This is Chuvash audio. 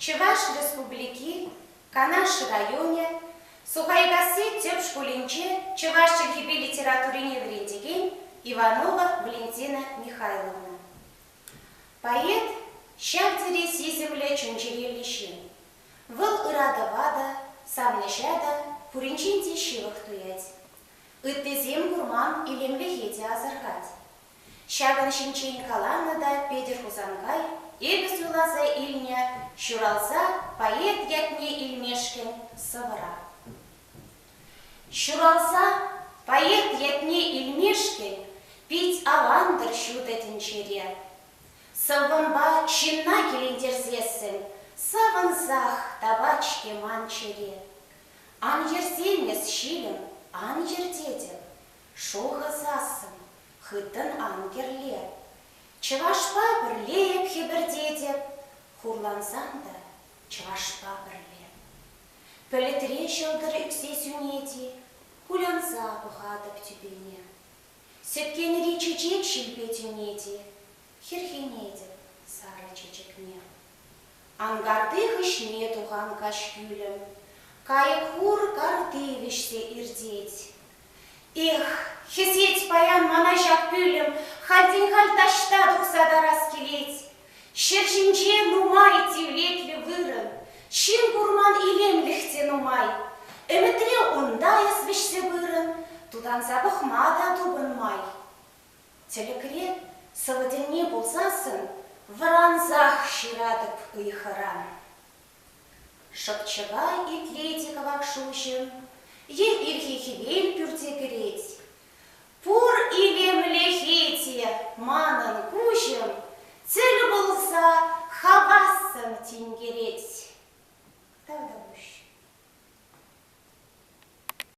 Чӑваш Республики Канаш районӗ Сухайкасси тӗп шкулӗнче чӑваш чӗлхипе литературине вӗрентекен Иванова Валентина Михайловна. Поэт, ҫав тери сисӗмлӗ чун-чӗреллӗ ҫын. Вӑл ыратӑва та, савӑнӑҫа та пуринчен те ҫывӑх туять. Ыттисем курман илемлӗхе те асӑрхать. Ҫакӑн ҫинчен каланӑ та Петӗр Хусанкай эпӗ суйласа илнӗ Ҫуралса поэт ятне илмешкӗн сӑвӑра. Ҫуралса поэт ятне илмешкӗн пит авантӑр ҫутӑ тӗнчере. Сӑввӑмпа ҫынна килентерсессӗн савӑнсах тапать-ҫке ман чӗре. Ан йӗрсем эс, ҫилӗм, ан йӗр тетӗп, шухӑсассӑн хыттӑн ан кӗрле. Чӑвашпа пӗрле эп хӗпӗртетӗп, хурлансан та чӑвашпа пӗрле. Пӗлӗтре ҫӑлтӑр ӳксе сӳнет-и, кулянса пӑхатӑп тӳпене. Сӗткенри чечек ҫилпе тӳнет-и, хӗрхенетӗп сарӑ чечекне. Анкарти хыҫне тухан каҫ кӳлӗм кайӑк-хур карти вӗҫсе иртет, Эх, хӗсет паян мана ҫак пӳлӗм, Хальтен халь таҫта тухса тарас килет. Ҫӗр ҫинче нумай тивлетлӗ вырӑн, Ҫын курман илемлӗх те нумай. Ӗмӗтре унта эс вӗҫсе пырӑн, Тутанса пӑхма та тупӑн май. Тӗлӗкре, сӑвӑ тӗнне пулсассӑн, Вӑрансах ҫыратӑп ыйхӑран. Шӑпчӑка итлет-и кӑвак шуҫӑм, Е ирхи хӗвел пӳрте кӗрет? Пур илемлӗхе те манӑн куҫӑм, Тӗл пулса хавассӑн тинкерет. Тавтапуҫ.